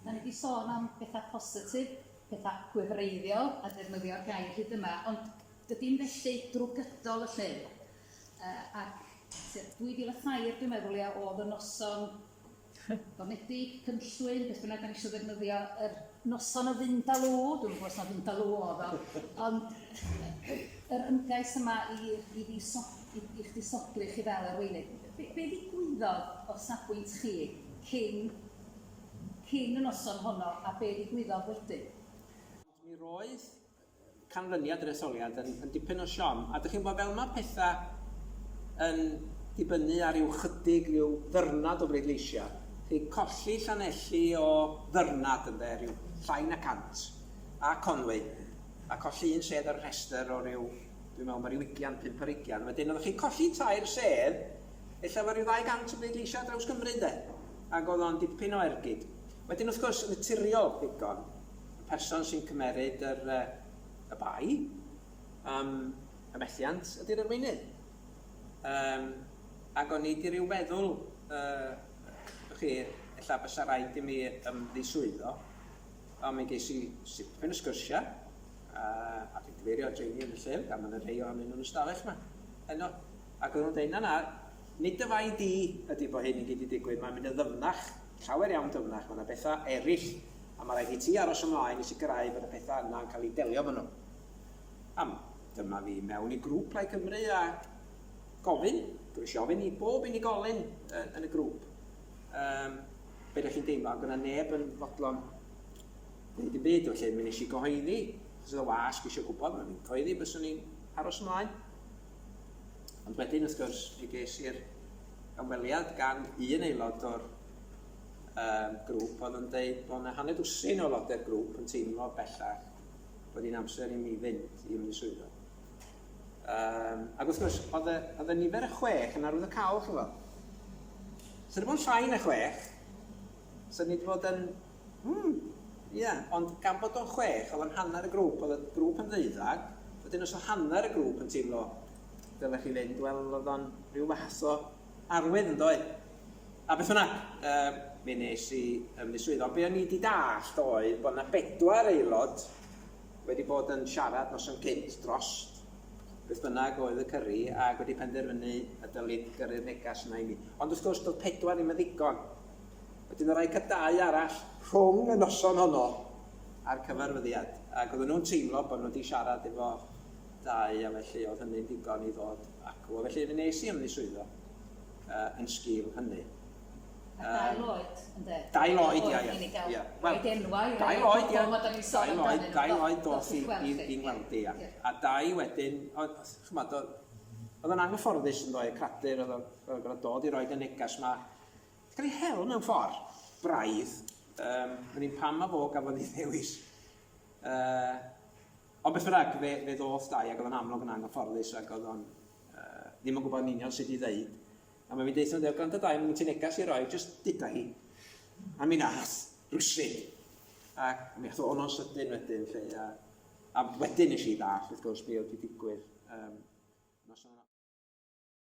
Dan ni 'di sôn am betha' positif, petha' gwefreiddiol, a defnyddio'r gair hyd yma, ond dydi'm felly drwy gydol y llun. Yy ac tua 2003 dwi'n meddwl ia o'dd y noson gormledig, cynllwyn, beth bynnag 'dan ni isio ddefnyddio, yr Noson o Findaloo, dwi'm yn gwybod os na Findaloo oedd o, ond yr ymgais yma i, i, fi so, i, i chdi sodlu chi fel arweinydd. Be, be ddigwyddodd o safbwynt chi cyn, cyn y noson honno a be ddigwyddodd wedyn? Mi roedd canlyniad yr etholiad yn yn dipyn o siom a dych chi'n gwybod fel ma' petha yn dibynnu ar ryw chydig ryw ddyrnod o bleidleisia chi'n colli Llanelli o ddyrnad ynde ryw llai na cant a Conwy a colli un sedd ar y rhestr o ryw dwi'n meddwl ma' ryw ugian pump ar ugian wedyn oeddech chi'n colli tair sedd ella efo ryw ddau gant o bleidleisia ar draws Cymru ynde ac oedd o'n dipyn o ergyd wedyn wrth gwrs yn naturiol ddigon y person sy'n cymeryd yr, yy, y bai am y methiant ydy'r arweinydd. Um, ac o'n i wedi rhyw feddwl, uh, chi, ella bysa rhaid i mi ymddiswyddo, ond mi ges i sipyn o sgyrsia, a, a dwi'n cyfeirio at rheini yn y llyfr, gan mae'n y rhai o'n nhw'n ystafell yma. Yno, ac o'n nhw'n dweud, na na, nid y fai di ydy bod hyn yn gyd i digwydd, mae'n mynd yn ddyfnach Llawer iawn dyfnach, mae 'na bethau eraill a mae rhaid i ti aros ymlaen i sicrhau bod y pethau yna yn cael eu delio efo nhw. Pam? Dyma fi mewn i grŵp Plaid Cymru a gofyn, dwi eisiau ofyn i bob unigolyn yn y grŵp, um, be da chi'n deimlo, ac yna neb yn fodlon gwneud yn byd, felly mi nes i gyhoeddi, achos oedd y wasg eisiau gwybod, mae fi'n cyhoeddi, byswn i'n aros ymlaen. Ond wedyn, wrth gwrs, mi ges i'r ymweliad gan un aelod o'r um, grŵp oedd yn dweud bod yna hanner dwsin o loder grŵp yn teimlo bellach bod hi'n amser i mi fynd i ymwneud swyddo. Um, ac wrth gwrs, oedd y, oedd y nifer y chwech yn arwydd y cawl, chi'n fawr. Swn i'n bod yn llai na chwech, swn i'n bod yn Hmm, ie, ond gan bod o'n chwech oedd o'n hanner y grŵp, oedd y grŵp yn ddeuddag, wedyn os oedd hanner y grŵp yn teimlo dylech chi fynd, wel oedd o'n rhyw fath o arwydd yn ddoedd. A beth hwnna, uh, mi nes i ym mis swydd, ond be o'n i wedi dallt oedd bod yna bedwar aelod wedi bod yn siarad nos yn cynt dros beth bynnag oedd y cyrru ac wedi penderfynu y dylid gyrru'r negas yna i mi. Ond wrth gwrs, doedd pedwar ddim yn ddigon. Wedyn yr aeth y dau arall rhwng y noson honno a'r cyfarfyddiad ac oedden nhw'n teimlo bod nhw wedi siarad efo dau a felly oedd hynny'n ddigon i ddod acw. A felly fe nes i ymddiswyddo uh, yn sgil hynny. A dau loed, ynddo? Dau loed, ia, ia. ia. Wel, Roed enwau, dau loed, ia. Dau loed, dau loed dos i, i, i ngweld i, ia. A dau wedyn, oedd, chymod, oedd yn anghyfforddus yn ddoe, cradur, oedd yn gorfod dod i roed y negas yma Ti'n cael ei hel mewn ffordd braidd. Um, Rwy'n un pam a fo gafodd ei ddewis. Uh, ond beth bynnag, fe, fe ddoth dau ac oedd o'n amlwg yn anghyfforddus ac oedd o'n uh, ddim yn gwybod yn union sut i ddeud. A mae fi'n deitha, dweud, gwrando dau, mae'n ti'n negas i roi, jyst dyda hi. A mi nath, rwysid. Ac mi ath o'n o'n sydyn wedyn, lle, a, a wedyn nes i ddall, wrth gwrs, be oedd wedi digwydd. Um,